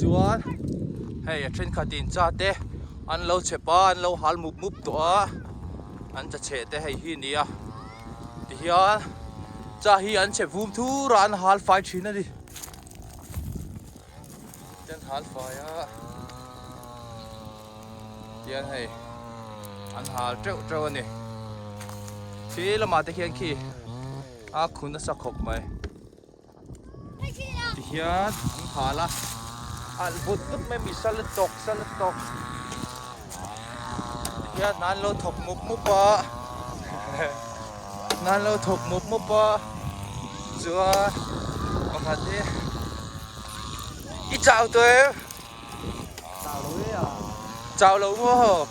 Chuan hei a thenkhat in chate an lo chep a an lo hal mup mup tawh a an chacheh te hei hi nia tihian cha hi an chep vum thur a an hal fai thin a ni ten hal fai a tian hei an hal treuh treuh a ni khi lamah te khian khi a khun a sa khawp mai Tihian an nghal a, alh vut vut mai mi sal a tawk sal a tawk. Tihian hna an lo thawk mup mup a, hna an lo thawk mup mup a, chuan pakhat hi i chau tawh em? Chau lo e a. Chau lo maw?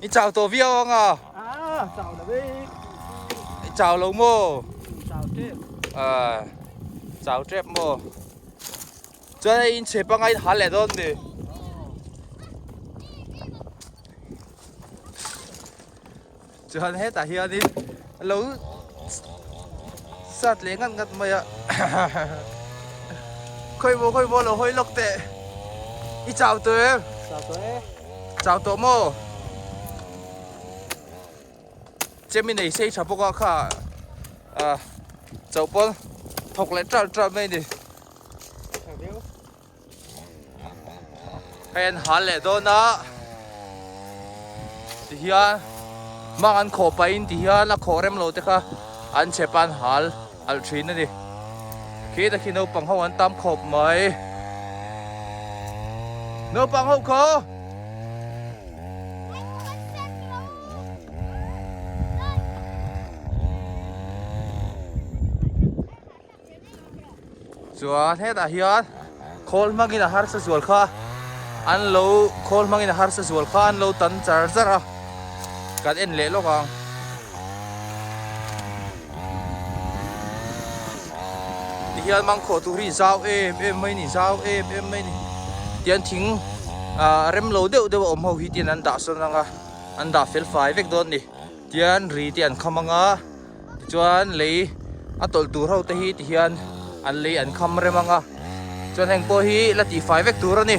I chau tawh viau ang a. Aa, chau lo e. I chau lo maw? Chau tep. Aa, chau tep maw? Chuan in che pangai in hal leh dawn ni. Chuan hetah hianin A lo sat leh ngat ngat mai a. Khawi maw khawi maw a lo hawi lawk teh. I chau tawh em? Chau tawh e. Chau tawh maw? Chemi nei sei tha bawk a kha a chauh pawl thawk leh tral tral mai a ni. Hei an hal leh dawn a ti hian mang an khaw pahin ti hian a khaw remlo te kha an chep an hal alh thin a ni khi ta khi naupang ho an tam khawp mai naupang ho kho Chuan hetah hian khawl hmangin a harsa zual kha an lo khawl hmangin a harsa zual kha an lo tan char char a kan en leh lawk ang ti hian mang khaw tur hi zau em em mai ni zau em em mai ni tian thing a rem lo deuh deuh awm ho hi tian an dah sawn anga an dah fel fai vek dawn ni tian ri te an kham anga Tichuan lei a tawlh tur ho te hi ti hian an lei an kham rem ang a. Chuan heng pawh hi la tih fai vek tur a ni.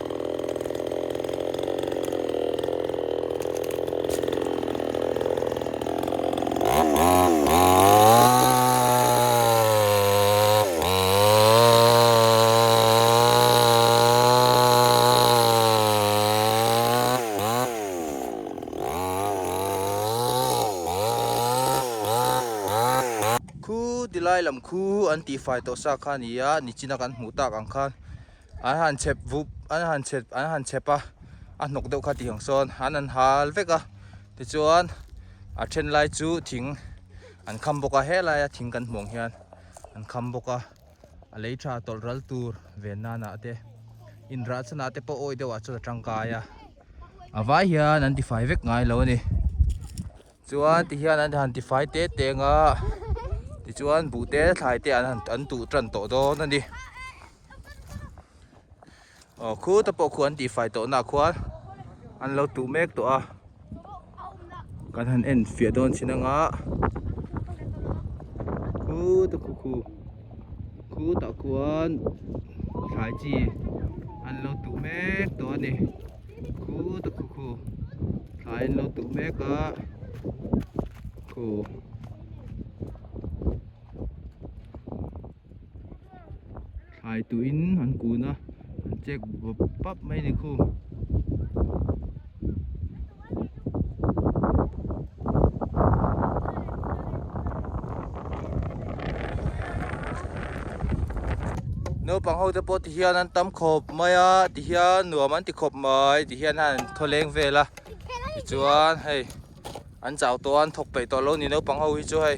Khu ti lai lam khu an tihfai tawh sa kha nia, Nichina kan hmuh tak ang khan. An han chhep vup, an han chhep, an han chhep a, a hnawk deuh kha tih ang sawn an han hal vek a. Tichuan a then lai chu thing an kham bawk a, helai a thing kan hmuh ang hian an kham bawk a. A lei tha tawlh ral tur ve nanah te, inrah chhanah te pawh awi deuh ah chuan a tangkai a. A vai hian an tifai vek ngai lo a ni. Chuan ti hian an han tifai te te ang a, tichuan buh te thlai te an han, an tuh tan tawh dawn a ni. aw khu te pawh khuan tih fai tawh na khuan an lo tuh mek tawh a kan han en fiah dawn chin anga khu te pawh khu khu tah khuan thlai chi an lo tuh mek tawh a ni khu te khu khu thlai an lo tuh mek a khu. thlai tuiin an kun a an check bup bup mai ni khû. Naupang ho te pawh ti hian an tam khawp mai a ti hian nuam an ti khawp mai ti hian an thawleng vel a tichuan hei an chau tawh a an thawk peih tawh lo a ni naupang ho hi chu hei.